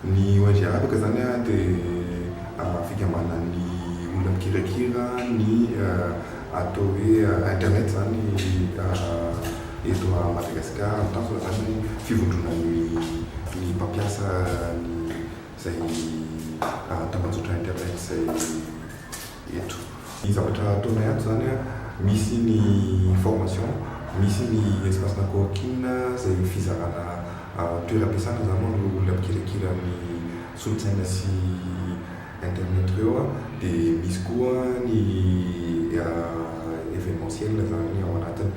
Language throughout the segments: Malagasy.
Ny ong arabaka izany dia fikambanana ny olona mikirakira ny atao hoe internet izany eto Madagasikara. Ny tanjona izany dia fivondronana ny mpampiasa izay tambajotra internet izay. eto. Ny zavatra ataonay ato izany an, misy ny formation, misy ny espace na coworking izay fizarana toeram-piasana izany hoan'ireo olona mpikirakira amin'ny solontsaina sy internet ireo an, dia misy koa ny evenementiel izany ao anatiny.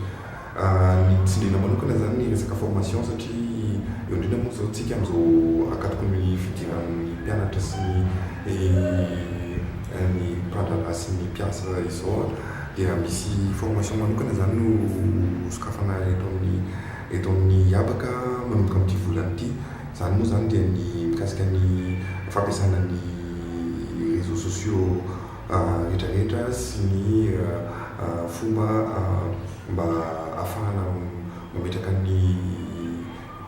Ny tsindriana manokana izany ny resaka formation satria eo indrindra moa izao tsika amin'izao ankatoky ny fidiran'ny mpianatra sy ny ny mpirandrana sy ny mpiasa izao dia misy formation manokana izany no sokafana eto amin'ny eto amin'ny habaka manomboka amin'ity volana ity. Izany moa izany dia ny mikasika ny fampiasana ny réseaux sociaux. retraretra sy ny fomba mba afahana mametraka ny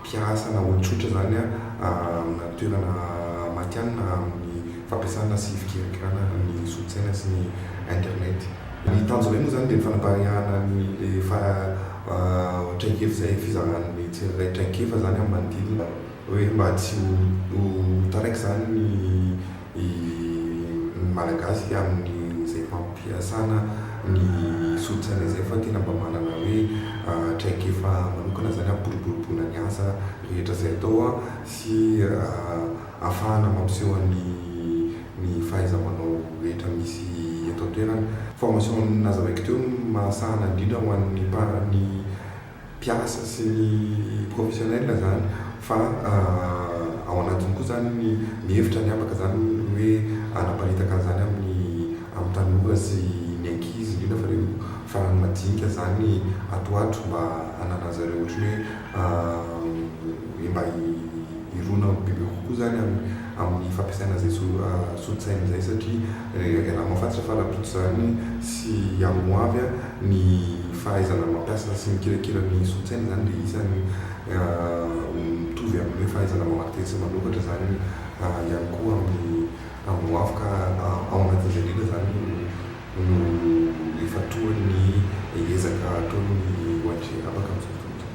mpiasa na olon-tsotra izany amina toerana matihanina amin'ny fampiasana sy fikirakirana ny solosaina sy ny internet. Ny tanjona indray moa izany dia ny fanapariahana ny efa traikefa izay, fizaran'ny tsirairay traikefa izany amin'ny manodidina hoe mba tsy ho taraiky izany ny. ny Malagasy amin'izay fampiasana ny solosaina izay fa tena mba manana hoe traikefa manokana izany hampiboroboroboana ny asa rehetra izay atao sy hahafahana mampiseho ny ny fahaiza-manao rehetra misy eto an-toerana. Formation nazahoeko teo no mahasahana indrindra ho an'ny mpa ny mpiasa sy ny professionnel izany fa ao anatiny koa izany ny ny hevitra ny habaka izany ny hoe hanaparitaka an'izany amin'ny amin'ny tanora sy ny ankizy indrindra fa ireo farany madinika izany ato ato mba hananan'izy ireo ohatran'ny hoe mba hirona bebe kokoa izany amin'ny amin'ny fampiasana izay so-solon-tsaina izay satria Rehefa avy anao fa tsy fanampiako izany sy amin'ny ho avy an, ny fahaizana mampiasa sy mikirakira ny solosaina izany dia isany mitovy amin'ny hoe fahaizana mamadika sy manokatra izany ihany koa amin'ny amin'ny ho avy ka ao anatin'izay indrindra izany no no ifantohan' ny ezaka ataon' ny ONG Rabaka amin'izao fotoana izao.